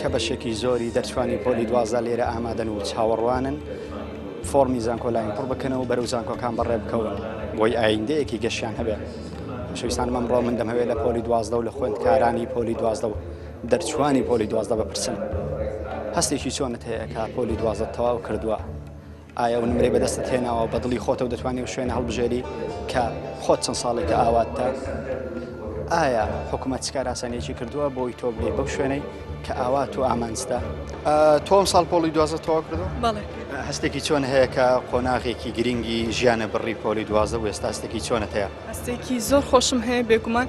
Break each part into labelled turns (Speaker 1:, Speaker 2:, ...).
Speaker 1: کە بەشێکی زۆری دەرچوانی پۆلی دوازدە لێرە ئامادەن و چاوەڕوانن فۆڕمی زانکۆلاین پڕ بکەنەوە بەرەو زانکۆکان بەڕێ بکەون بۆی ئایندەیەکی گەشیان هەبێت شویستان مەمڕۆ من دەمەوێت لە پۆلی دوازدە و لە خوێندکارانی پۆلی دوازدە و دەرچوانی پۆلی دوازدە بپرسم هەستێکی چۆنت هەیە کە پۆلی دوازدە تەواو کردووە ئایا ئەو نمرەی بەدەستت هێناوە بە دڵی خۆتەو دەتوانانی و شوێنە هەڵبژێری کە خۆت چەند ساڵێکە ئاواتتە ئایا حکوومەت چکاراسانێکی کردووە بۆی تۆ بێ بەو شوێنەی کە ئاوات و ئامانجدا تۆم ساڵ پۆڵی دوازە تەوا کردو هەستێکی چۆن هەیە کە قۆناغێکی گرنگی ژیانە بڕی پۆلی دوازە و ئێستا هەستێکی چۆنە هەیە هەستێکی زۆر خۆشم هەیە بێگومان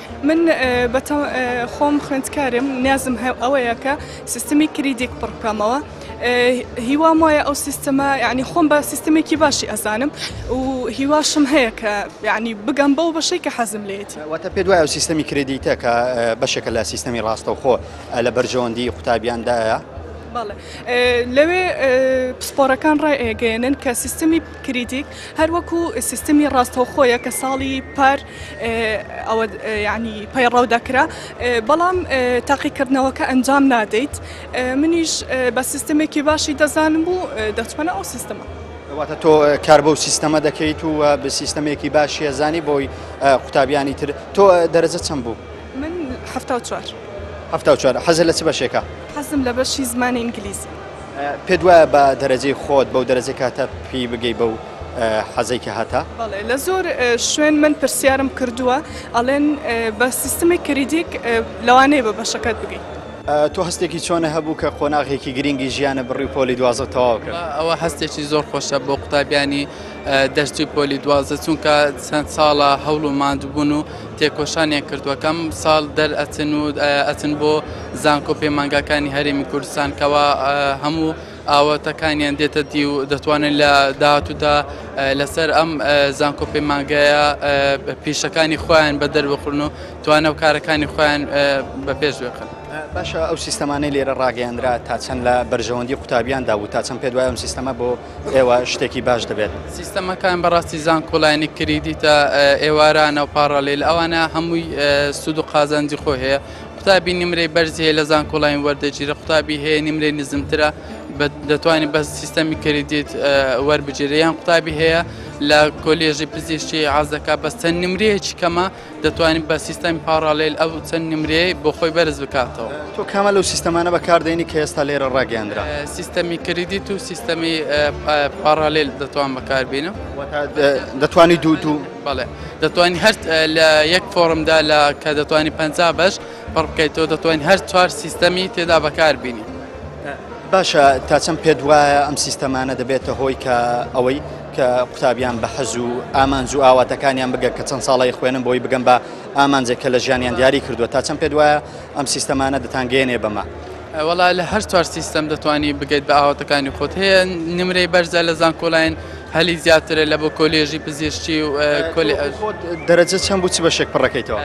Speaker 1: من بە خۆم خوێندکارم نیازم هەیە ئەوەیە کە سیستمی کریدێک پڕ بکەمەوە هیوام وایە ئەو سیستەمە یعنی خۆم بە سیستمێکی باشی ئەزانم و هیواشم هەیە کە یعنی بگەم بەو بەشەی کە حەزم لێت واتە پێ دوای ئەو سیستەمی کریدیتە کە بەشێکە لە سیستەمی ڕاستەوخۆ لە بەرژەوەندی قوتابیاندایە لەوێ پسپۆرەکان ڕێگەێنن کە سیستمی کریدیک هەروەکو سیستمی ڕاستەوخۆیە کە ساڵی پار ئەوە یعنی پەیڕەو دەکرا بەڵام تاقیکردنەوەکە ئەنجام نادەیت منیش بە سیستمێکی باشی دەزانم بوو دەچمەە ئەو سیستمە. واتە تۆ کار بەو سیستەمە دەکەیت و بە سیستەمێکی باشی هەزانی بۆی قوتابیانی تر تۆ دەرەجە چەند بوو من ه4 حەزە لە چ بەشێکە حەزم لە بەشی زمانی ئینگلیزی پێت وایە بە دەرەجەی خۆت بەو دەرەجەی کاتە پێی بگەی بەو حەزەی کە هەتە؟ بەڵێ لە زۆر شوێن من پرسیارم کردووە ئەڵێن بە سیستمی کریدیک لەوانەیە بە بەشەکەت بگەی. تۆ هەستێکی چۆنە هەبوو کە قۆناغێکی گرینگی ژیانە بڕی و پۆلی دوازەت تەواو کرد؟ ئەوە هەستێکی زۆر خۆشە بۆ قوتابیانی دەرچووی پۆلی دوازە چونکە چەند ساڵە هەوڵ و ماندووبوون و تێکۆشانیان کردووە کە ئەم ساڵ دەر ئەچن و ئەچن بۆ زانکۆ پەیمانگاکانی هەرێمی کوردستان کەوا هەموو ئاواتەکانیان دێتە دی و دەتوانن لە داهاتوودا لەسەر ئەم زانکۆ پەیمانگەیە پیشەکانی خۆیان بە دەربخڕن و توانە و کارەکانی خۆیان بە پێش بخن باشە ئەو سیستەمانەی لێرە ڕاگەیاندرا تا چەند لە بەرژەوەندی قوتابیاندا و تا چەند پێ دوای ئەم سیستەمە بۆ ئێوە شتێکی باش دەبێت. سیستەمەکان بەڕاستی زانکۆلاینی کریدیتە ئێوارانە و پاڕالیل ئەوانە هەمووی سود و قازانجی خۆ هەیە قوتابی نمرەی بەرزی هەیە لە زانکۆلاین وەردەگیرە قوتابی هەیە نمرەی نزمترە دەتوانانی بە سیستەمی کریدیت وەربگیرە یان قوتابی هەیە لە کۆلێژی پزیشتی عزەکە بەستە نمرەیەکی کەمە دەتوانیت بە سیستەمی پاڕاڵێل ئەو چەند نمرەیە بۆ خۆی بەرز بکاتەوە. تۆ کامە لەو سیستەمانە بەکاردێنی کە ئێستا لێرە ڕاگەیاندرا؟ سیستەمی کریدیت و سیستەمی پاڕاڵێل دەتوان بەکاربێنم. دەتوانی دوو دوو؟ بەڵێ دەتوانین هەر لە یەک فۆڕمدا لە کە دەتوانانی پەنج بەش پڕ بکەیتەوە دەتوانین هەر چوار سیستەمی تێدا بەکاربینی. باشە تا چەند پێت وایە ئەم سیستەمانە دەبێتە هۆی کە ئەوەی کە قوتابیان بە حەز و ئامانج و ئاواتەکانیان بگە کە چەند ساڵی خوێنم بۆی بگەم بە ئامانجێک کە لە ژیانیان دیاری کردووە تا چەند پێت وایە ئەم سیستەمانە دەتانگەێنێ بەمە؟ وەڵا لە هەر چوار سیستەم دەتوانی بگەیت بە ئاواتەکانی خۆت هەیە نمرەی بەرزە لە زانکۆلاین هەلی زیاترە لە بۆ کۆلێژی پزیشتی و کۆلی دەرەجە چەند بوو چ بەشێک پڕەکەیتەوە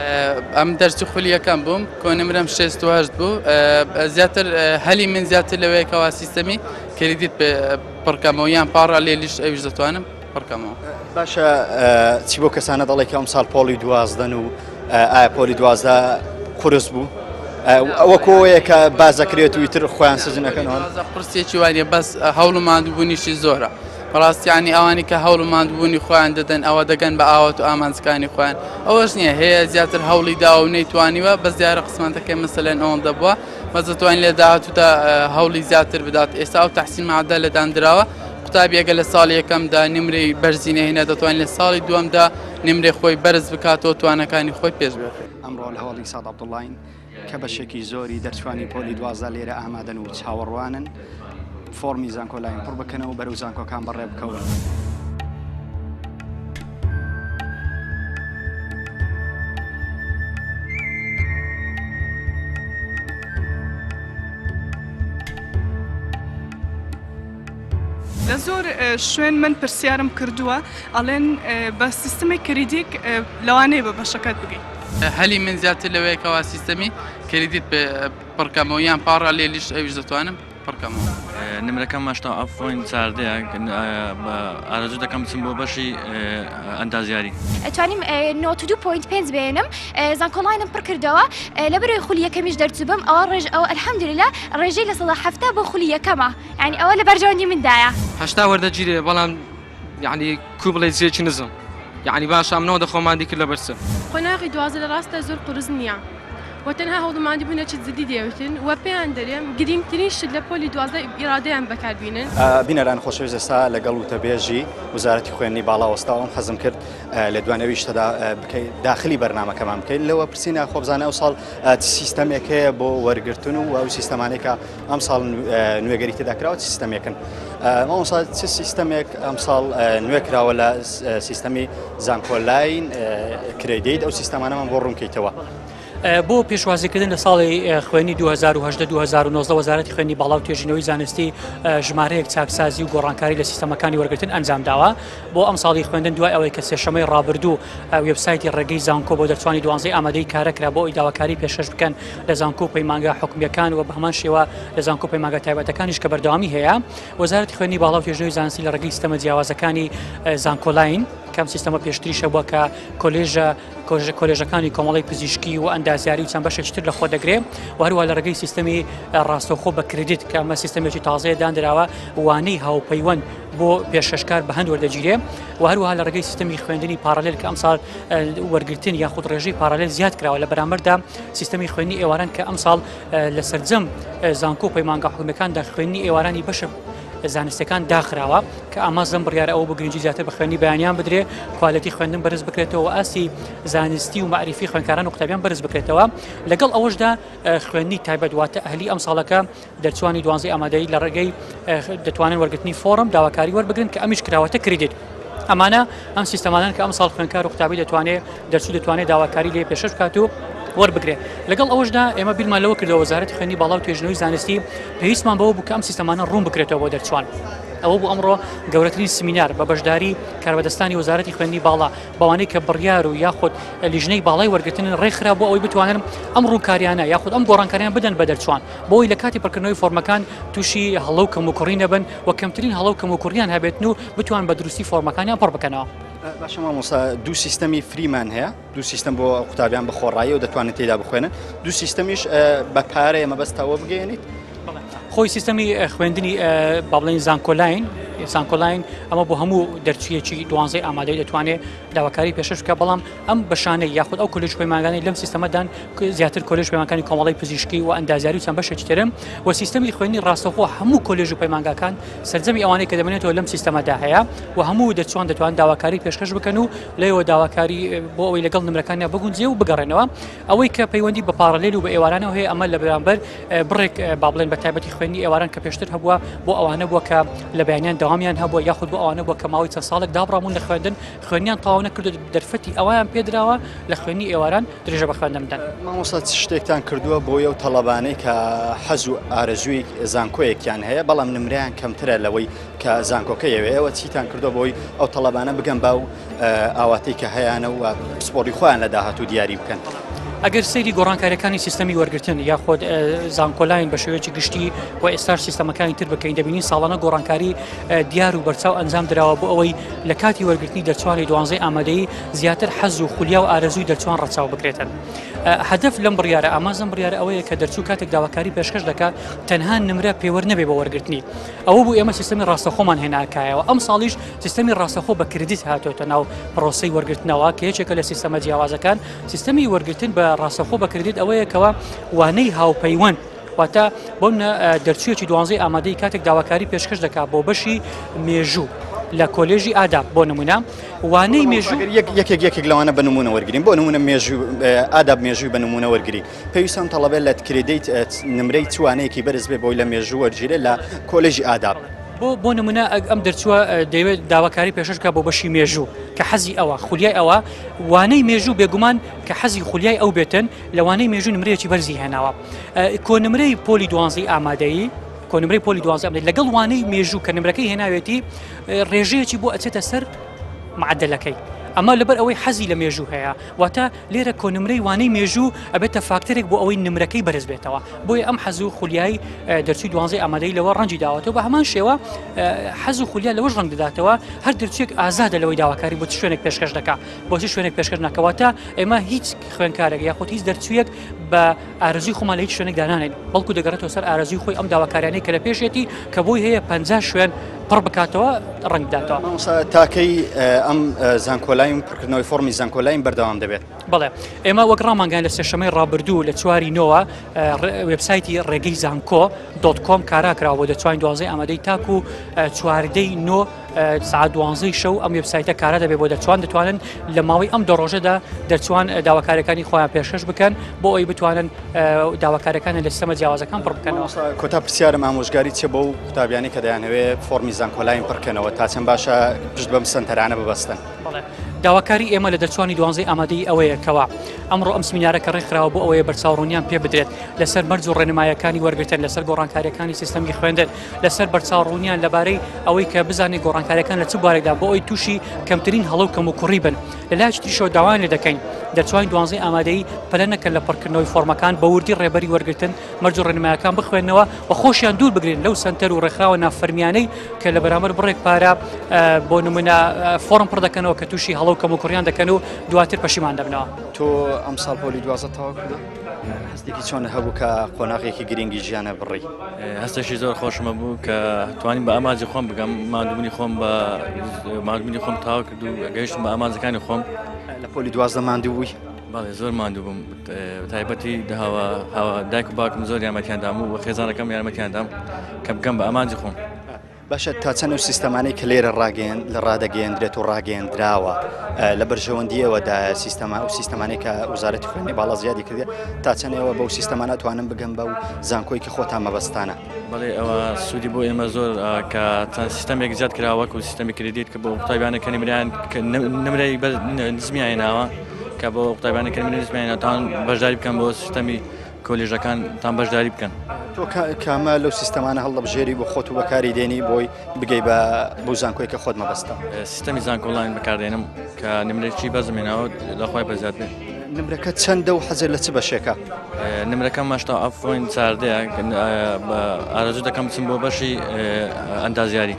Speaker 1: ئەم دەرچی خولیەکەم بووم کۆنمرم شێستهشت بوو زیاتر هەلی من زیاتر لەوەیەکەوە سیستەمی کردیت پێ پڕکەمەوە یان پاڕالێلیش ئەویش دەتوانم پڕکەمەوە باشە چی بۆ کەسانە دەڵێک ئەم ساڵ پۆڵی دوازدەن و ئایا پۆلی دوازدە قرس بوو ئەوە کۆیە کە باز دەکرێت و تر خۆیان سزنەکەنەوە قرسێکی وانە بەس هەوڵ مادبوونیشی زۆرە بەڕاستیانی ئەوانی کە هەوڵ مادبوونی خۆیان دەدەن ئەوە دەگەن بە ئاوات و ئامانجەکانی خۆیان ئەوەش نییە هەیە زیاتر هەوڵی داو نەیتوانیوە بەس دیارە قسمانتەکەی مەسەلەن ئەوەندە بووە بەس دەتوانین لە داهاتوودا هەوڵی زیاتر بدات ئێستا ئەو تحسین مادە لە داندراوە قوتابیەکە لە ساڵی یەکەمدا نمرەی بەرزی نەهێنا دەتوانین لە ساڵی دووەمدا نمرێ خۆی بەرز بکاتەوە توانەکانی خۆی پێش بێت ئەمڕۆ لە هەوڵی ساڵ عبدڵین کە بەشێکی زۆری دەرچوانی پۆلی دوازە لێرە ئامادەن و چاوەڕوانن فۆڕمی زانکۆلاین پڕ بکەنەوە بەرەو زانکۆکان بەڕێ بکەون. لە زۆر شوێن من پرسیارم کردووە ئەڵێن بە سیستمی کریدیک لەوانەیە بە بەشەکەت بگەیت هەلی من زیاتر لەوەیەکەوە سیستەمی کریدیت پڕکەمەوە یان پاڕە لێ لیشت ئەویش دەتوانم پڕکەمەوە. نمرەکەم مەشتا ئەفۆین چاردەیە بە ئارەزو دەکەم بچم بۆ بەشی ئەندازیاری ئەتوانیم نۆت دو پۆینت پێنج بێنم زانکۆڵاینم پڕ کردەوە لە بەرەوەی خولی یەکەمیش دەرچوبم ئەوە ڕێژ ئەو ئەلحەمدوللا ڕێژەی لە سەدا حەفتا بۆ خولی یەکەمە یعنی ئەوە لە بەرژەوەندی مندایە. هەشتا وەردەگیرێ بەڵام یەعنی کو بڵێ جێکی نزم یەعنی باشە ئەم نەوەدە خۆمان دی کرد لەبەر چ؟ قۆناغی دوازدە لە ڕاستە زۆر قورس نییە و تەنها هەوڵ و ماندووبوونێکی جددی دەیەوێتن و پێیان دەرێم گرینگترین شت لە پۆلی دوازدە ئیرادەیان بەکاربینن. بینەرانی خۆشەویست ئێستا لەگەڵ وتەبێژی وەزارەتی خوێندنی باڵا وەستاوە ئەم حەزم کرد لە دووان ئەویش تەدا بکەی داخلی بەرنامەکەمان بکەیت لەوە پرسینە خۆبزانە ئەوساڵ سیستەمێک هەیە بۆ وەرگرتن و ئەو سیستەمانێکە ئەمساڵ نوێگەری تێدا کراوە چ سیستەمێکن مامۆسا چ سیستەمێک ئەمساڵ نوێ کراوە لە سیستەمی زانکۆلاین کرێدیت ئەو سیستەمانەمان بۆ ڕوونکەیتەوە. بۆ پێشوازیکردن لە ساڵی خوێنی 2010 وەزارەتی خوێنی باڵا و توێژینەوەی زانستی ژمارەیەک چاکسازی و گۆڕانکاری لە سیستەمەکانی وەرگتن ئەنجام داوە بۆ ئەم ساڵی خوێندن دوای ئەوەی کە سێشەمەی ڕابردوو وبسایتی ڕێگەی زانکۆ بۆ دەرچوانی دوانزەی ئامادەی کارەکرا بۆ ئەوی داواکاری پێشش بکەن لە زانکۆ و پەیمانگا حکومیەکان و بە هەمان شێوە لە زانکۆ و پەیمانگا تایبەتەکانیش کە بەردەوامی هەیە وەزارەتی خوێنی باڵا و توێژنەوەی زانستی لە ڕێگەی سیستەمە جیاوازەکانی زانکۆلاین کەم سیستەمە پێشتریشە بووە کە کۆلێژە کۆژە کۆلێژەکانی کۆمەڵی پزیشکی و ئەندازیاری و چەند بەشێکتر لە خۆ دەگرێ و هەروە لە ڕێگەی سیستەمی ڕاستەوخۆ بە کردیت کە ئەمە سیستەمێکی تازەیە دانراوە وانەی هاوپەیوەند بۆ پێشکەشکار بە هەند وەردەگیرێ و هەروها لە ڕێگەی سیستەمی خوێندنی پارالل کە ئەمسال وەرگتن یاخود ڕێژەی پارالل زیاد کراوە لە بەرامبەردا سیستەمی خوێنی ئێواران کە ئەمساڵ لە سەرجەم زانکۆ و پەیمانگا حکومەکاندا خوێنی ئێوارانی بەشە زانستەکان داخراوە کە ئامازم بڕیارە ئەوە بۆ گرنگجی زیاتر بە خوێنی بەیانیان بدرێ کوالەتی خوێندن بەرز بکرێتەوە ئاستی زانستی و معریفی خوێنکاران و قوتابیان بەرز بکرێتەوە لەگەڵ ئەوەشدا خوێنی تایبەت واتە ئەهلی ئەم ساڵەکە دەرچوانی دوانزەی ئامادەیی لە ڕێگەی دەتوانن وەرگرتنی فۆڕم داواکاری وەربگرن کە ئەمیش کراوەتە کریدیت ئەمانە ئەم سیستەمانان کە ئەم ساڵ خوێنکار و قوتابی دەتوانێت دەرچوو دەتوانێت داواکاری لێ پێشش بکات و وەربگرێ لەگەڵ ئەوشدا ئێمە بیرمان لەوە کردەوە وەزارەتی خوێنی باڵا و توێژنەوەی زانستی پێویستمان بەوە بوو کە ئەم سیستەمانە ڕوون بکرێتەوە بۆ دەرچوان ئەوە بوو ئەمڕۆ گەورەترین سمینار بە بەشداری کاربەدەستانی وەزارەتی خوێندنی باڵا بەوانەی کە بڕیار و یاخود لیژنەی باڵای وەرگتن ڕێکخرا بۆ ئەوەی بتوانن ئەم ڕووکاریانە یاخود ئەم گۆڕانکاریان بدەن بە دەرچوان بۆی لە کاتی پڕکردنەوەی فۆرمەکان تووشی هەڵە و کەموکوڕی نەبن و کەمترین هەڵە و کەموکوڕیان هەبێتن و بتوان بە دروستی فۆرمەکانیان پڕ بکەنەوە. باشە مامۆستا دوو سیستەمی فریمان هەیە دوو سیستم بۆ قوتابیان بە خۆڕایی و دەتوانێت تێدا بخوێنن دوو سیستەمیش بە پارەیە مەبەستەوە بگەێنیت خۆی سیستەمی خوێندنی بابلین زانکۆلاین سانکۆلاین ئەمە بۆ هەموو دەرچیەکی دوانزەی ئامادەی دەتوانێت داواکاری پێشش بکە بەڵام ئەم بەشانەی یاخود ئەو کۆلێژ پەیمانگانەی لەم سیستەمەدان زیاتر کۆلێژ پەیمانەکانی کۆمەڵی پزیشکی و ئەندازیاری و چەند بەشێکی ترن و سیستەمی خوێندنی ڕاستەخۆ هەموو کۆلێژ و پەیمانگاکان سەرجەمی ئەوانەی کە دەمێنێتەوە لەم سیستەمەدا هەیە و هەموو دەچوان دەتوان داواکاری پێشکەش بکەن و لەوە داواکاری بۆ ئەوەی لەگەڵ نمرەکانیان بگونجێ و بگەڕێنەوە ئەوەی کە پەیوەندی بە پاڕلێل و بە ئێوارانەوە هەیە ئەمە لە بەرامبەر بڕێک با بڵێن بە تایبەتی خوێندنی ئێواران کە پێشتر هەبووە بۆ ئەوانە بووە کە لە بەیانیان داوامیان هەبووە یاخود بۆ ئەوانە بووە کە ماوەی چەند ساڵێک دابڕامون لە خوێندن خوێنیان تەواو نەکردو دەرفەتی ئەوەیان پێدراوە لە خوێنی ئێواران درێژە بە خوێندن بدەن. مامۆستا چ شتێکتان کردووە بۆی ئەو تەڵەبانەی کە حەز و ئارەزووی زانکۆیەکیان هەیە بەڵام نمرەیان کەمترە لەوەی کە زانکۆکە یەوێ ئێوە چیتان کردووە بۆی ئەو تەڵەبانە بگەن با و ئاواتەی کە هەیانە و پسپۆڕی خۆیان لە داهاتوو دیاری بکەن؟ ئەگەر سەیری گۆڕانکاریەکانی سیستەمی وەرگرتن یاخۆد زانکۆلاین بە شێوەیەکی گشتی و ئێستاش سیستەمەکانی تر بکەین دەبینین ساڵانە گۆڕانکاری دیار و بەرچاو ئەنجام دراوە بۆ ئەوەی لە کاتی وەرگرتنی دەرچوانی دوانزەی ئامادەی زیاتر حەز و خولیا و ئارەزووی دەرچوان ڕەچاو بکرێتن. هەدف لەم بڕیارە ئامانزم بڕیارە ئەوەیە کە دەرچوو کاتێک داواکاری پێشکەش دەکات تەنها نمرە پێوەر نەبێ بۆ وەرگرتنی ئەوە بوو ئێمە سیستمی ڕاستەخۆمان هێناکایەوە ئەم ساڵیش سیستمی ڕاستەخۆ بە کردیت هاتۆتە ناو پرۆسی وەرگرتنەوە کە یەکێکە لە سیستەمە جیاوازەکان سیستمی وەرگرتن بە ڕاستەخۆ بە کردیت ئەوەیەکەوە وانەی هاوپەیوەند واتە بۆ منە دەرچویەکی دوانزەی ئامادەی کاتێک داواکاری پێشکەش دەکات بۆ بەشی مێژوو لە کۆلێژی ئادا بۆ نمونە وانەی مێژوو یەکێک یەکێک لەوانە بە نمونە وەرگین بۆ نمونە مێژوو ئاداب مێژووی بە نمونە وەرگری پێویستان تەڵەبێت لە کردیت نمرەی چوانەیەکی بەرز بێ بۆی لە مێژوو وەرگیرێ لە کۆلێژی ئاداب. بۆ بۆ نمونە ئەم دەرچووە دەیەوێت داواکاری پێششکە بۆ بەشی مێژوو کە حەزی ئەوە خولیای ئەوە وانەی مێژوو بێگومان کە حەزی خولیای ئەو بێتن لەوانەی مێژوو نمرەیەکی بەرزی هێناوە کۆنمرەی پۆلی دوانزی ئامادەیی کۆنمرەی پۆلی دوازی ئەمێت لەگەڵ وانەی مێژوو کە نمرەکەی هێناوێتی ڕێژەیەکی بۆ ئەچێتە سەر معدلەکەی. ئەمە لەبەر ئەوەی حەزی لە مێژوو هەیە واتە لێرە کۆنمرەی وانەی مێژوو ئەبێتە فاکتەرێک بۆ ئەوەی نمرەکەی بەرز بێتەوە بۆی ئەم حەزو خولیای دەرچوی دوانزی ئامادەی لەوە ڕەنجی داوەتەوە بە هەمان شێوە حەز و خولیا لەوەش ڕنگ دەداتەوە هەر دەرچێک ئازادە لەوەی داواکاری بۆ شوێنێک پێشکەش دەکە بۆچی شوێنێک پێشکەش نەکەواتە ئێمە هیچ خوێنکارێک یاخود هیچ دەرچویەک بە ئارزوی خۆمان لە هیچ شوێنێک دانانێن بەڵکو دەگەڕێتەوە سەر ئارزوی خۆی ئەم داواکاریانەی کە لە پێشێتی کە بۆی هەیە پ شوێن پڕ بکاتەوە ڕنگ بداتەوە تاکەی ئەم زانکۆلایم پڕکردنەوەی فۆمی زانکۆلایم بەردەوام دەبێت بڵێ ئێمە وەک ڕامانگەیان لە سێشەمەی ڕابردوو لە چواری نۆوە وبسایتی ڕێگەی زانکۆ دۆت کۆم کاراکراوە دەتوانین دوازی ئامادەی تاکو چواردەی نۆ سعات دوانزەی شەو ئەم وبسایتە کارا دەبێت بۆ دەچوان دەتوانن لە ماوەی ئەم دەڕۆژەدا دەچوان داواکارەکانی خۆیان پێشش بکەن بۆ ئەوی بتوانن داواکارەکان لە سەمە جیاوازەکان پڕ بکەنەوە کۆتا پرسیارم ئامۆژگاری چە بەو قوتابیانی کە دەیانەوێ فۆرمی زانکۆلاین پڕکەنەوە تا چەند باشە پشت بەم سنتەرانە ببەستن داواکاری ئێمە لە دەرچوانی دوانزەی ئامادەی ئەوەیە کەەوە ئەمڕۆ ئەم سمینارە کە ڕێکخراوە بۆ ئەوەیە بەرچاوڕونیان پێ بدرێت لەسەر مەرج و ڕێنمایەکانی وەرگتن لەسەر گۆڕانکاریەکانی سیستەمی خوێندن لەسەر بەرچاوڕوونیان لەبارەی ئەوەی کە بزانین گۆڕانکاریەکان لە چ بارێکدا بۆ ئەوی تووشی کەمترین هەڵو کەم و کوڕی بن لە لایش تریشەوە داوایان لێ دەکەین دەرچوانی دوانزەی ئامادەی پەلە نەکەن لە پڕکردنەوەی فۆرمەکان بە وردی ڕێبەری وەرگتن مەرج و ڕێنمایەکان بخوێنەوە و خۆشیان دوور بگرن لەو سنتەر و ڕێکخراوە نافەرمیانەی کە لە بەرامەر بڕێک پارە بۆ نمونە فۆرم پڕ دەکەنەوە کە تووشی هەڵو کەم و کوڕیان دەکەن و دواتر پەشیمان دەبنەوە تۆ ئەمساڵ پۆلی دوازە تەواو کردووە؟ هەستێکی چۆنت هەبوو کە قۆناغێکی گرنگی ژیانە بڕی؟ هەستێکی زۆر خۆشمە بوو کە توانیم بە ئامانجی خۆم بگەم مادوونی خۆم بە مادوونی خۆم تاو کرد و گەیشتم بە ئامانجەکانی خۆم لە پۆلی دوازدە ماندوو بووی باڵێ زۆر ماندوو بووم تایبەتی داوا هاوا دایک و باکم زۆر یارمەتیاندام و خێزانەکەم یارمەتیاندام کە بگەم بە ئامانجی خۆم. باشە تا چەند ئەو سیستەمانەی کە لێرە ڕاگەیەن لە ڕادەگەیەندرێت و ڕاگەیەندراوە لە بەرژەوەندی ئەوەدا سیستەما و سیستەمانی کە وزارەتی خوێنی باڵا زیادی کردێت تا چەندەوە بەو سیستەمانە توانم بگەم بە و زانکۆیکی خۆتان مەبەستانە بڵێ ئەوە سوودی بۆ ئێمە زۆر کە چەند سیستەمێک زیاد کراوەک و سیستەمی کردیت کە بۆ قوتابیانە کە نمریان نمرەی نزمیانەوە کە بۆ قوتابیانە کە نزمیانەتان بەشداری بکەم بۆ سیستەمی کۆلێژەکانتان بەشداری بکەن. تۆ کامە لەو سیستەمانە هەڵدەبژێری بۆ خۆت و بەکاری دێنی بۆی بگەی بە بەو زانکۆی کە خۆت مەبەستە سیستەمی زانکۆڵین بەکاردێنم کە نمرێکی بەزمێناوە لەخوای بەزیاد بێت نمرەکە چەندە و حەزێت لە چ بەشێکە نمرەکە ماشتا ئەفۆین چاردەیە بە ئارەزو دەکەم بچم بۆ بەشی ئەندازیاری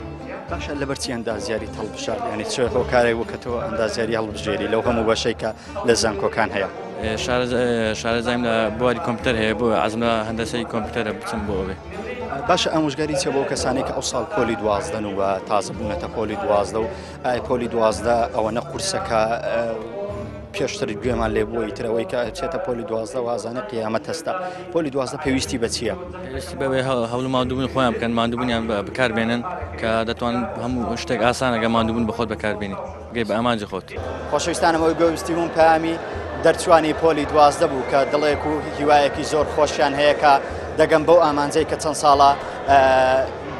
Speaker 1: باشە لەبەرچی ئەندازیاری هەڵبژار ینی چ هۆکارێک وکەەوە ئەندازیاری هەڵبژێری لەو هەموو بەشێکە لە زانکۆکان هەیە. شارەزایم لە بواری کۆمپیوتەر هەیە بۆ ئازم لە هەندەسەی کۆمپیوتەرە بچم بۆ ئەوێ. باشە ئامۆژگاری چە بۆ کەسانی کە ئەو ساڵ پۆلی دوازدەن و تازە بوونەتە پۆلی دوازدە و ئای پۆلی دوازدە ئەوەنە قورسەکە پێشتر گوێمان لێ بووی ترەوەی کە چێتە پۆلی دوازدە وازانە قیامەت هەستا پۆلی دوازدە پێویستی بە چییە پێویستی بەوێ هەڵ مادوبوون خۆیان بکەن مادوبوونیان بە بکاربێنن کە دەتوان هەموو شتێک ئاسانەکە مادوبوون بەخۆت بەکاربیێنی گەی بە ئامانجی خۆت. خۆشەویستانم ئەوەی بۆ ویستیبووم پەیامی دەرچووانی پۆلی دوازدە بوو کە دڵێک و هیوایەکی زۆر خۆشیان هەیە کە دەگەن بەو ئامانجەی کە چەند ساڵە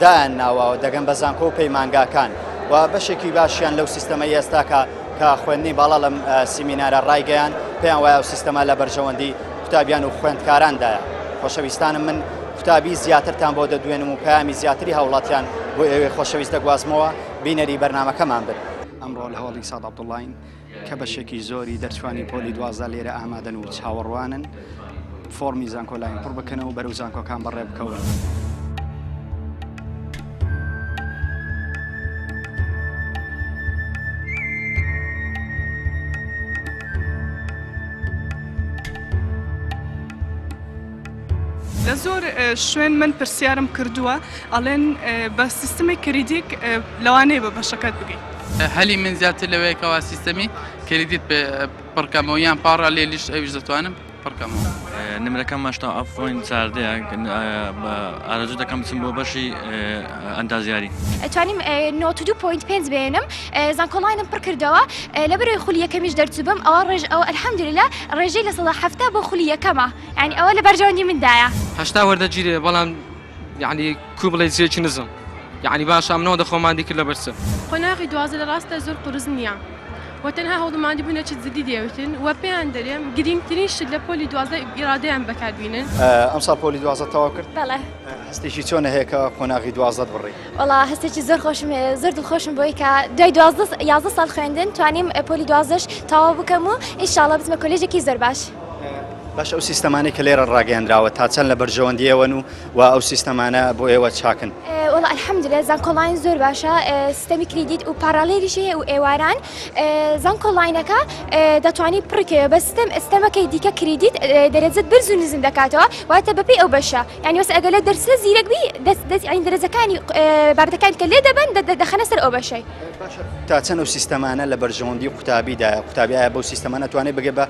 Speaker 1: دایان ناوە و دەگەن بە زانکۆ و پەیمانگاکان و بەشێکی باشیان لەو سیستەمە ئێستاکە کە خوێندنی باڵا لەم سیمینارە ڕایگەیان پێیان وایە و سیستەما لە بەرژەوەندی قوتابیان و خوێندکاراندایە خۆشەویستانم من قوتابی زیاترتان بۆ دەدوێنم و پەیامی زیاتری هاوڵاتیان بۆ ئێوەی خۆشەویست دەگوازمەوە بینەری بەرنامەکەمان بن. ئەمڕۆ لە هۆڵی ساد عەبدوڵڵاین کە بەشێکی زۆری دەرچووانی پۆلی دوازدە لێرە ئامادەن و چاوەڕوانن فۆڕمی زانکۆلاین پڕ بکەنەوە و بەرەو زانکۆکان بەڕێ بکەون. لە زۆر شوێن من پرسیارم کردووە ئەڵێن بە سیستمی کریدیک لەوانەیە بە بەشەکەت بگەیت هەلی من زیاتر لەوەیەکەوە سیستەمی کریدیت پڕکەمەوە یان پاڕا لێ لیشت ئەویش دەتوانم پڕکەمەوە نمرەکەم ماشتا ئەفۆین چاردەیە ئارەزوو دەکەم بچم بۆ بەشی ئەندازیاری ئەتوانیم نۆت دو پوینت پێنج بێنم زانکۆڵینم پڕ کردەوە لە بەرەوەی خولی یەکەمیش دەرچوبم ئەوە ڕێژ ئەو ئەلحەمدوللا ڕێژەی لە سەدا هەفتا بۆ خولی یەکەمە یعنی ئەوە لە بەرژەوەندی مندایە هەشتا وەردەگیرێ بەڵام یعنی کو بڵێ جێکی نزم یعنی باش ئەمنەوە دەخۆماندی کرد لە بەرچە قۆناغی دوازە لە ڕاستە زۆر قرس نییە و تەنها هەوڵماندی بوونە چ زدی دەوتن و پێیان دەرێم گرنگترین شت لە پۆلی دوازە ئیرادەیان بەکاربیینن ئەم ساڵ پۆلی دوازە تەوا کرد بەڵێ هەستێکی چۆنە هەیەکە قۆناغی دوازدە بڕی وڵا هەستێکی زۆر خۆشم زۆر دڵخۆشم بۆی کە دوای دوازدە یازدە ساڵ خوێندن توانیم پۆلی دوازدەش تەوا بکەم و ئیشاڵە بچمە کۆلێژێکی زۆر باش. باشە ئەو سیستەمانەی کە لێرە ڕاگەیەندراوە تا چەند لە بەرژەوەندی ئێوەن و و ئەو سیستەمانە بۆ ئێوە چاکن؟ وڵ ئەلحەمدلە زانکۆڵین زۆر باشە سیستەمی کریدیت و پاراڵێریشی هەیە و ئێواران زانکۆڵینەکە دەتوانانی پڕکەوە بە سیستەم ئێستەمەکەی دیکە کریدیت دەرەجەت بەرز و نزم دەکاتەوە واتە بەپێی ئەو بەشە یانی وەس ئەگەر لە دەرسە زیرەک بی دەست دەست یانی دەرەجەکانی بابەتەکان کە لێ دەبەن دەخەنە سەر ئەو بەشەی تا چەند ئەو سیستەمانە لە بەرژەوەندی قوتابیدایە قوتابی ئایا بەو سیستەمانە توانێت بگە بە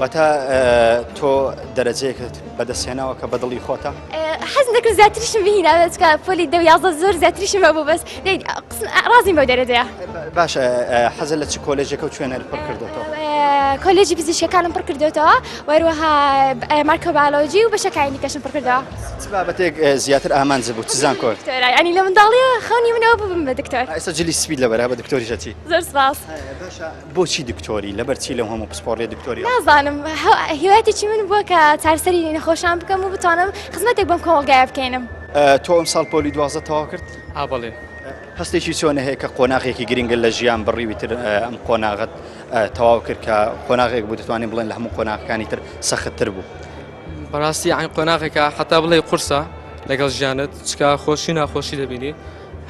Speaker 1: واتە تۆ دەرەجەیەکت بەدەستێناوە کە بەدڵی خۆتە؟ حەز دەکرد زیاتریشم بهیناوێت کە پۆلی دە یازە زۆر زیاتریشم بە بوو بەس ڕازیم بە دەرەجەیە باشە حەزە لە چ کۆلێژەکە و شوێنەر پڕ کردێتەوە کۆلێژی پزیشکەکانم پڕ کردێتەوە وەروەها مارکە باالۆجی و بەشەکانی کەشم پڕ کردەوە بابەتێک زیاتر ئامانج بوو چزان کۆ ئەنی لە منداڵی خەونی منەوە ببم بە دکتۆر ئێستا جلی سپید لە بەرا بە دکتۆریشەتی زۆر سپاس بۆچی دکتۆری؟ لەبەر چی لەو هەموو پسپۆڕیە دکتۆری؟ نازانم هیوایەتێکی من بووە کە چارسەری نەخۆشان بکەم و بتوانم خزمەتێک بەم کۆمەڵگایە بکەینم. تۆ ئەم ساڵ پۆلی دوازدە تەواو کرد؟ ئا بەڵێ. هەستێکی چۆنە هەیە کە قۆناغێکی گرنگە لە ژیان بڕیوی تر ئەم قۆناغت تەواو کرد کە قۆناغێک بوو دەتوانین بڵێن لە هەموو قۆناغەکانی تر سەختتر بوو؟ بەڕاستی عین قۆناغێکە حتا بڵێ قورسە لەگەڵ ژیانت چکا خۆشی ناخۆشی دەبینی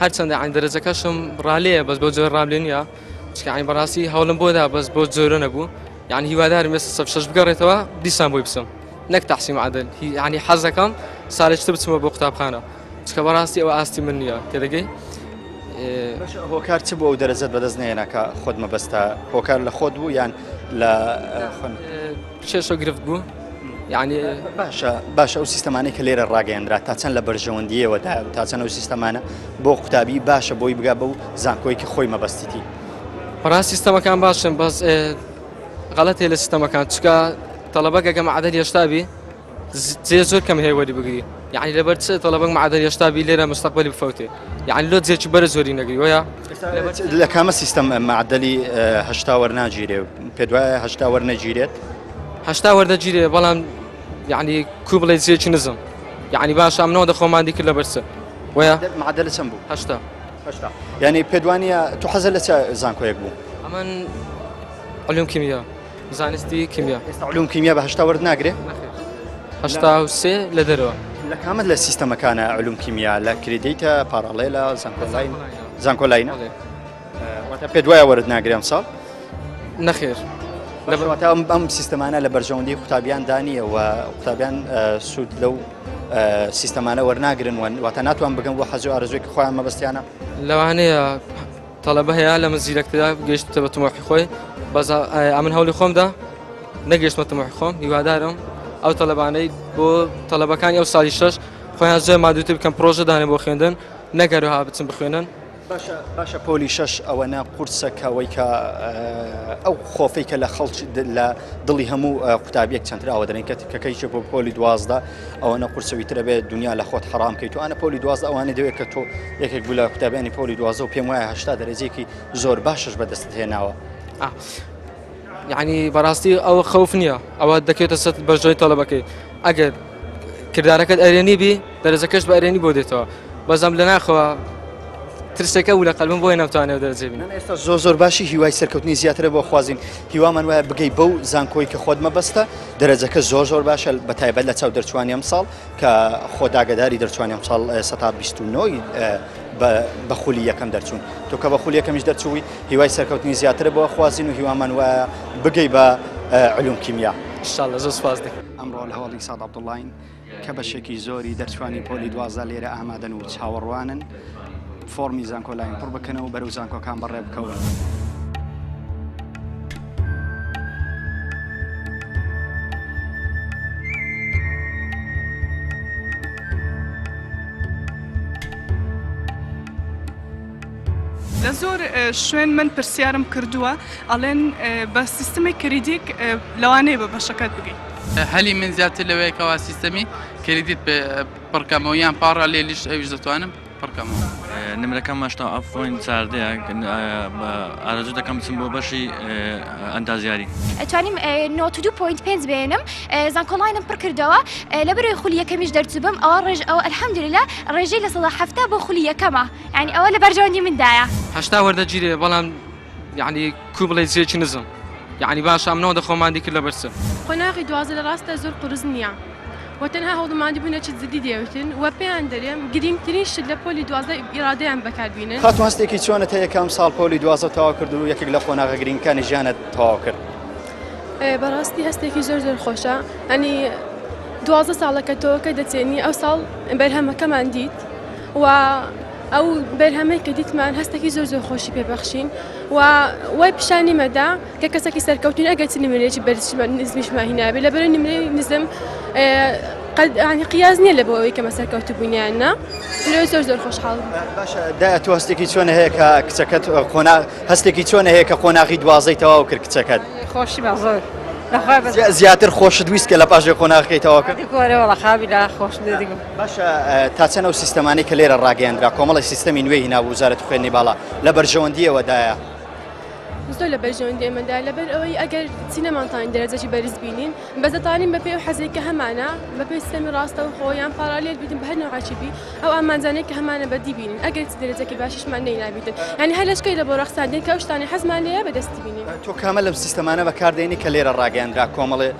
Speaker 1: هەرچەندە عین دەرەجەکەشم ڕالەیە بەس بۆ جۆر ڕابلێنە چکایە بەڕاستی هەوڵم بۆ دا بەس بۆ جۆرە نەبوو یعنی هیوادارم ئێستا سەب شەش بگەڕێتەوە دیسان بۆی بچم نەک تحسیم عادل یعنی حەزەکەم سالێکتر بچمەوە بۆ قوتابخانە چکە بەڕاستی ئەوە ئاستی من نییە تێدەگەی هۆکار چ بۆ ئەو دەرەجەت بەدەست نێناکە خۆت مەبەستە هۆکار لە خۆت بوو یان لە کێشە گرفت بوو یانی باشە باشە ئەو سیستەمانەی کە لێرە ڕاگەیەنرا تا چەند لە بەرژەوەندیەوەدا تا چەند ئەو سیستەمانە بۆ قوتابی باشە بۆی بگا بەو زانکۆی کە خۆی مەبەستیتی پرا سیستەمەکان باشن بەس غەڵەتێ لە سیستەمەکان چکە تەڵەبە گەگەم عادەت هێشتابی زێ زۆر کەم هەیە وەری بگری یعنی لەبەر چ تەڵەبەک معادە هێشتابی لێرە مستقبلی بفەوتێ یعنی لۆ جێکی بەرە زۆری نەگری وە لە کامە سیستەم معدلی هەشتا وەرناگیرێ پێ دوایە هەشتا وەرنەگیرێت هەشتا وەردەگیرێ بەڵام یعنی کو بڵێ جێکی نزم یعنی باش ئەم نەوە دەخۆمان دیکرد لە بەرسە وە معدە لە چەند بوو هەشتا هەشتا یعنی پێدوانە تو حەزە لە چ زانکۆیەک بوو ئەمن علوم کیمیا زانستی کیمیا ئێستا علوم کیمیا بە هەشتا وەرد ناگرێ هەشتا و سێ لە دەرەوە لە کامت لە سیستەمەکانە علوم کیمیا لە کریدیتە پاراڵێلە زانکۆلاین زانکۆلاینە واتە پێت وایە وەرت ناگرێ ئەمساڵ؟ نەخێر. لەبەرواتا ئەم ئەم سیستەمانە لە بەرژەوەندی قوتابیان دانیە و قوتابیان سوود لەو سیستەمانە وەرناگرن وەن واتە ناتوان بگەم بۆ حەزو ئارزوێکی خۆیان مەبستیانە لەوانەیە تەڵەبە هەیە لە من زیرەکترا گەشتە بە تمۆحی خۆی بەز ئەمن هەولی خۆمدا نەگەشتمە تمۆحی خۆم هیوادارم ئەو تەلەبانەی بۆ تەلەبەکانی ئەو ساڵی شش خۆیان زۆر مادووتر بکەم پرۆژەدانە بۆ خوێندن نەگەرەوە بچم بخوێنن باشە باشە پۆلی شەش ئەوەنە قورسە کەەوەی کە ئەو خۆفەی کە لە خەڵچ لە دڵی هەموو قوتابیەک چەندراوە دەێن کە تکەکەیکە بۆ پۆلی دوازدا ئەوەنە قورسەوی ترە بێت دنیا لە خۆت حرام کەیت توانە پۆلی دوازدا ئەوانە دەوێت کە تۆ یەکێک بوو لە قوتابیانی پۆلی دوازە و پێم وایە هشتا دەرەجێکی زۆر باشش بەدەست هێناوە. یعنی بەڕاستی ئەوە خەوف نییە ئەوە دەکەێتە سەر بەژۆی تەڵەبەکەی ئەگەر کردارەکەت ئەرێنی بی دەرەجەکەش بە ئەرێنی بۆ دێتەوە بەزەم لە ناخەوە ترسێکە و لە قەلبم بۆی نەوتانێ دەرجێ بین ئێستا زۆر زۆر باشی هیوای سەرکەوتنی زیاترە بۆ خوازین هیوامان وایە بگەی بەو زانکۆی کە خۆت مەبەستە دەرەجەکە زۆر زۆر باشە بە تایبەت لە چاو دەرچوانی ئەم ساڵ کە خۆ داگەداری دەرچوانی ئەمساڵ سەتا بیست و نۆی بە خولی یەکەم دەرچوون تۆ کە بە خولی یەکەمیش دەرچووی هیوای سەرکەوتنی زیاترە بۆ خوازین و هیوامان وایە بگەی بە علوم کیمیا شاءاللە زۆر سپاس دەکەم ئەمڕۆ لە هۆڵی ساد عەبدوڵڵاین کە بەشێکی زۆری دەرچوانی پۆلی دوازدە لێرە ئامادەن و چاوەڕوانن فۆڕمی زانکۆلاین پڕ بکەنە و بەرەو زانکۆکان بەڕێ بکەون. لە زۆر شوێن من پرسیارم کردووە ئەڵێن بە سیستمی کریدیک لەوانەیە بە بەشەکەت بگەیت هەلی من زیاتر لەوەیەکەوە سیستەمی کریدیت پڕکەمەوە یان پاڕالێلیش ئەویش دەتوانم پڕکەمەوە. نمرەکەم هەشتا و حەفت پۆینت چاردەیە ئارەزوو دەکەم بچم بۆ بەشی ئەندازیاری. توانیم نۆت و دوو پۆینت پێنج بێنم زانکۆڵاینم پڕ کردەوە لە بەرەوەی خولی یەکەمیش دەرچووبم ئەوە ڕێژ ئەوە ئەلحەمدولیلا ڕێژەی لە سەدا حەفتا بۆ خولی یەکەمە یانی ئەوە لە بەرژەوەندی مندایە. هەشتا وەردەگیرێ بەڵام. یعنی کو بڵێ جێکی نزم یعنی باش ئەم نەوەندە خۆمان دیکرد لەبەر چ قۆناغی دوازە لە ڕاستە زۆر قورس نییە و تەنها هەوڵماندی بوونە چ جدی دەوتن و پێیان دەرێم گرنگترین شت لە پۆلی دوازە ئیرادەیان بەکاربیێن خاتو هەستێکی چۆنە تا یەکەم ساڵ پۆلی دوازە تەواو کرد و یەکێک لە قۆناغە گرنگەکانی ژیانت تەواو کرد بەڕاستی هەستێکی زۆر زۆر خۆشە ئەنی دوازە ساڵەکە تۆکە دەچێنی ئەو ساڵ بەرهەمەکەمان دیت و ئەو بەرهەمەی کە دیتمان هەستەکی زۆر زۆر خۆشی پێبەخشین و وای پیشانی مەدا کە کەسەکی سەرکەوتین ئەگەر چ نمرێکی بەرز نزمیشمان هینابێ لە بەرە نمرەی نزم قەدانی قیاز نییە لە بۆ ئەوەی کەمە سەرکەوت بوونیان نا لێ زۆر زۆر خۆشحاڵ تو هەستێکی چۆن هەیە کە کچەکەت قۆنا هەستێکی چۆن هەیە کە قۆناغی دوازەی تەواو کرد کچەکەت خۆشی بە زۆر. زیاتر خۆشت ویست کە لە پاژێ قۆناغەکەی تەواکە گۆرەوە خاوی لا خۆش. باشە تا چەند ئەو سیستەمانەی کە لێرە ڕاگەیاندرا کۆمەڵی سیستەمی نوێی هینا وزارەت خوێندنی باڵا لە بەرژەوەندیەوەدایە؟ زۆر لە بەرژەوەندی ئێمەدا لەبەر ئەوەی ئەگەر چی نەمانتوانین دەرەجەی بەرز بینین بەس دەتوانین بەپێ و حەزێک کە هەمانە بەپێی سیستەمی ڕاستە و خۆ یان پارالێل بینین بە هەر نوعاچی بی ئەو ئامانجانەی کە هەمانە بەدی بینین ئەگەر چی دەرەجەکی باشیشمان لێی نابیتن یعنی هەر لەشکەی لە بۆ ڕەخساندین کە ئەو شتانەی حەزمان لێیە بەدەستی بینین. تۆ کامە لەم سیستەمانە بەکاردێنی کە لێرە ڕاگەیاندرا کۆمەڵی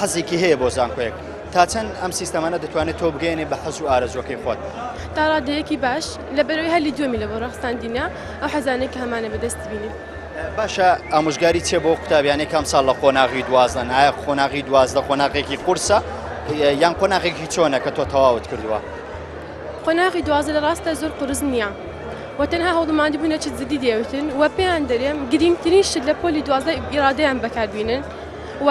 Speaker 1: حەزێکی هەیە بۆ زانکۆیەک؟ تا چەند ئەم سیستەمانە دەتوانێت تۆ بگەیەنێت بە حەز و ئارەزووەکەی خۆت؟ تا ڕادەیەکی باش، لەبەرئەوەی هەلی دووەمی لە بۆ ڕەخساندینە ئەو حەزانەی کە هەمانە بەدەست بینین. باشە ئامۆژگاری چیە بۆ قوتابیانی کام ساڵ لە قۆناغی دوازدەن؟ ئایا قۆناغی دوازدە قۆناغێکی قورسە یان قۆناغێکی چۆنە کە تۆ تەواوت کردووە؟ قۆناغی دوازدە لە ڕاستە زۆر قورس نییە و تەنها هەوڵماندی بوونە چ جدی دەیەوتن و پێیان دەرێم گرینگترین شت لە پۆلی دوازدە ئیرادەیان بەکاربینن و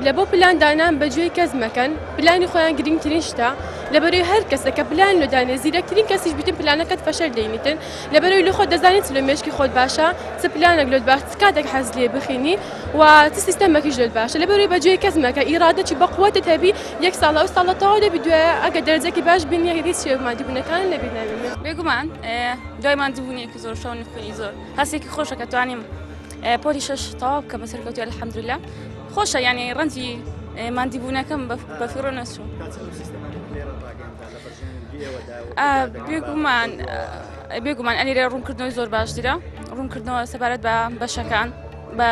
Speaker 1: لە بۆ پلان دانان بە گوێی کەس مەکەن پلانی خۆیان گرنگترین شتە لە بەرەی هەر کەسە کە پلان لە دانێ زیرەکترین کەسیش بیتن پلانەکەت فەشەر دەینیتن لە بەرەوەی لە خۆ دەزانیت لە مێشکی خۆت باشە چ پلانێک لۆت باش کاتێک حەز لێ بخینی و چ سیستەمەکیش لۆت باشە لە بەرەوەی بە گوێی کەس مەکە ئیرادەکی بە قوەتت هەبی یەک ساڵە ئەو ساڵە تەواو دەبی دوێ ئەگە دەرەجەکی باش بینی هیچ شێ مادی بوونەکان نەبی ناوی بێگومان دوای ماندووبوونێکی زۆر شەو نخوێنی زۆر هەستێکی خۆشە کە توانیم پۆلی شش تەواو بکە بە سەرکەوتی الحەمدلله خۆشە یانی ڕەنجی مادی بوونەکەم بە فیڕۆ نەچوو بێگومان بێگومان ئەلیرە ڕوونکردنەوەی زۆر باشترە ڕوونکردنەوە سەبارەت بە بەشەکان بە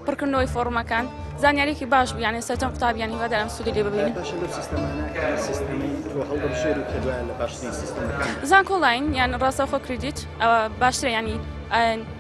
Speaker 1: پڕکردنەوەی فۆڕمەکان زانیارێکی باش بیانێ سەرجەم قوتابیان هیوادارم سوودی لێ ببین زانکۆڵین یان ڕاستەخۆ کردیت ئەوە باشترە ینی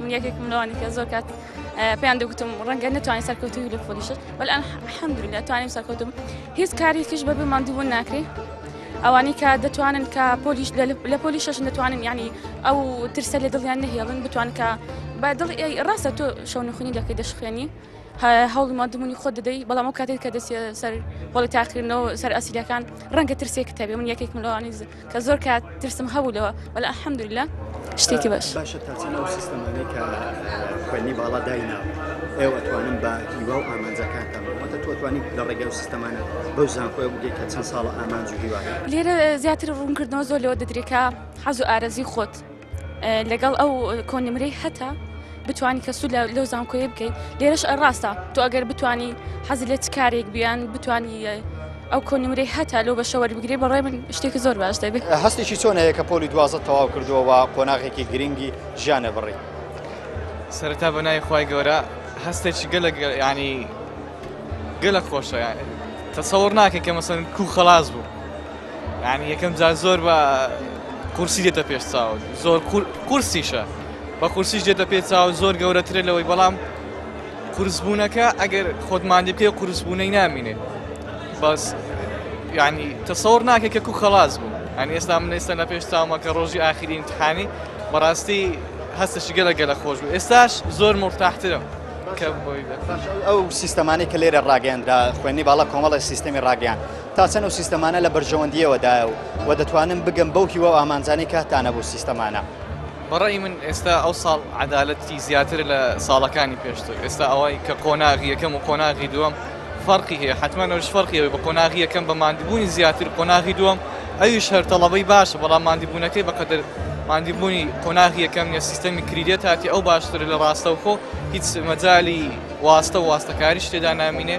Speaker 1: من یەکێکم لەوانی کە زۆر کات پێیان دەگوتم ڕەنگە نتوانین سەرکەوتوی لە پۆلیشت بەل حەمدوریلا توانیم سەرکەوتم هیچ کارێکیش بەبێ ماندووبوون ناکرێ ئەوانەی کە دەتوانن کە پۆلیش لە پۆلی شەش دەتوانن ینی ئەو ترسە لە دڵیان نەهێڵن بتوان کە بە دڵ ڕاستە تۆ شەونخونی دەکەی دەشخێنی هەوڵی مادمونی خۆ دەدەی بەڵام ئەو کاتێک کە دەستی سەر بەڵی تاقیرنەوە سەر ئەسیلەکان ڕەنگە ترسێک تەبێ من یەکێک ملوانیز کە زۆر کات ترسم هەبوو لەوە وەل ئەحمدلە شتێکی باش باشە تاچەنەوە سیستەمانەی کە خوێنی باڵا داینا ئێوە توانن بە هیوا و ئامانجەکانتانەوەتە تۆتوانی لە ڕێگە و سیستەمانە بەو زانکۆی بگەیت کە چەند ساڵە ئامانج و هیوا لێرە زیاتر ڕوونکردنەوە زۆر لەوە دەدرێکە حەز و ئارەزی خۆت لەگەڵ ئەو کۆنمرەی هەتا بتانی کە سوود لەو زانکۆیە بکەیت لێرەش ڕاستە تۆ ئەگەر بتانی حەزی لە چ کارێک بیان بتانی ئەو کۆنمرەی هەتا لەو بەشەوە بگرێ بەڕێ من شتێکی زۆر باش دەبێت هەستێکی چۆن هەیە کە پۆلی دوازە تەواو کردووەوە قۆناغێکی گرنگی ژیانە بڕی سەرتا بە نای خی گەورە هەستێکی گەلە ینی گەلە خۆشە تەسەور ناکە کە مەسن کو خلاص بوو یانی یەکەم جار زۆر بە قورسی دێتە پێش چاو زۆر قورسیشە بە قورسیش دێتە پێ چاو زۆر گەورەترە لەوەی بەڵام قورسبوونەکە ئەگەر خۆتماندی پێ قورسبوونەی نامینێ بەس یعنی تەسەور ناکە کە کو خلاص بوو ئەنی ئێستا من ئێستا لە پێش چاومە کە ڕۆژی ئاخری امتحانی بەڕاستی هەستەشی گەلە گەلە خۆش بوو ئێستاش زۆر مرتاحترم ئەو سیستەمانی کە لێرە ڕاگەیاندرا خوێنی باڵا کۆمەڵی سیستەمی ڕاگەیان تا چەند ئەو سیستەمانە لە بەرژەوەندییەوە دایە و وە دەتوانم بگەم بەو هیوا و ئامانجانەی کاتتانە بۆ سیستەمانە؟ بە ڕەئی من ئێستا ئەو ساڵ عەدالەتی زیاترە لە ساڵەکانی پێشتر ئێستا ئەوەی کە قۆناغی یەکەم و قۆناغی دووەم فەرقی هەیە حەتمەن ئەوش فەرقی ئەوەی بە قۆناغی یەکەم بە ماندبوونی زیاتر قۆناغی دووەم ئەویش هەر تەڵەبەی باشە بەڵام ماندبوونەکەی بەقەدەر ماندبوونی قۆناغی یەکەم نیە سیستەمی کریدێت هاتی ئەو باشترە لە ڕاستەوخۆ هیچ مەجالی واستە و واستەکاریش تێدا نامینێ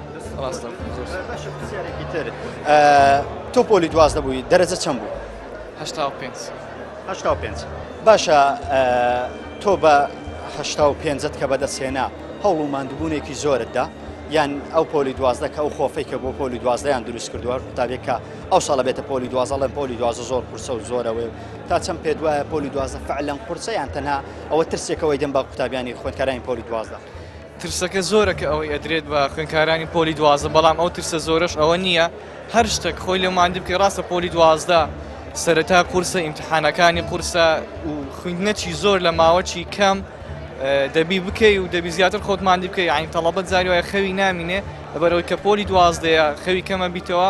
Speaker 1: ڕاستە زۆر سوپاس. باشە پرسیارێکی تر تۆ پۆلی دوازدە بووی دەرەجە چەند بوو؟ هەشتا و پێنج. هەشتا و پێنج. باشە تۆ بە هەشتا و پێنجت کە بەدەستهێنا هەوڵ و ماندووبوونێکی زۆرتدا یان ئەو پۆلی دوازدە کە ئەو خۆفەی کە بۆ پۆلی دوازدەیان دروست کردووە قوتابێکە ئەو ساڵە بێتە پۆلی دوازەڵێن پۆلی دوازە زۆر قورسە و زۆرەوەی و تا چەند پێ دوایە پۆلی دوازدە فعلەن قورسە یان تەنها ئەوە ترسێکەوەی دەم بە قوتابیانی خوێندکارانی پۆلی دوازدە. ترسەکە زۆرە کە ئەوەی ئەدرێت بە خوێنکارانی پۆلی دوازدە بەڵام ئەو ترسە زۆرەش ئەوە نییە هەر شتەک خۆی لێ ماندی بکەی ڕاستە پۆلی دوازدە سەرەتا قورسە ئیمتحانەکانی قورسە و خویندنەچی زۆر لە ماوەچی کەم دەبی بکەی و دەبی زیاتر خۆت ماندی بکەی عین تەڵەبەت زاری وایە خەوی نامینێ لەبەرەوەی کە پۆلی دوازدەیە خەوی کەمە بیتەوە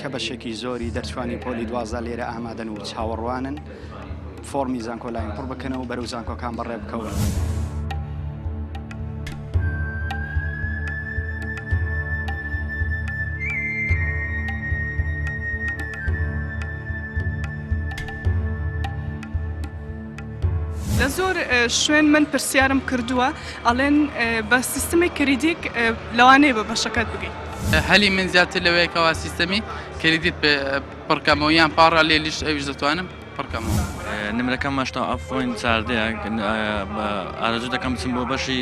Speaker 1: کە بەشێکی زۆری دەرچوانی پۆلی دوازدە لێرە ئامادەن و چاوەڕوانن فۆرمی زانکۆلاین پڕ بکەنەوە بەرەو زانکۆکان بەڕێ بکەون. لە زۆر شوێن من پرسیارم کردووە ئەڵێن بە سیستمی کریدیک لەوانەیە بە بەشەکەت بگەیت هەلی من زیاتر لەوەیە کەوا سیستەمی کریدیت پێ پڕکەمەوە یان پاڕالیلیش ئەویش دەتوانم پڕکەمەوە. نمرەکەم هەشتا و حەفت پۆینت چاردەیە ئارەزوو دەکەم بچم بۆ بەشی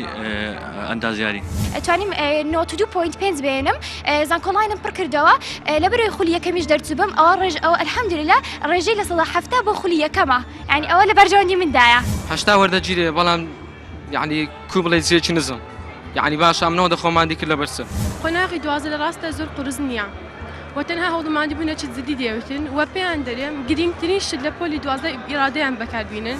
Speaker 1: ئەندازیاری. توانیم نەوەد و دوو پۆینت پێنج بێنم زانکۆڵاینم پڕ کردەوە لەبەرەوەی خولی یەکەمیش دەرچوبم ئەوە ڕێژ ئەوە الحمدللە ڕێژەی لە سەدا حەفتا بۆ خولی یەکەمە یانی ئەوە لە بەرژەوەندی مندایە. هەشتا وەردەگیرێ بەڵام. یعنی کو بڵێ جێکی نزم یعنی باش ئەمنەوە دەخۆمان دیکرد لە بەرسە قۆناغی دوازە لە ڕاستە زۆر قرس نییە و تەنها هەوڵماندی بوونە چ زدی دێوتن و پێیان دەرێم گرنگترین شت لە پۆلی دوازە ئیرادەیان بەکاربیینن.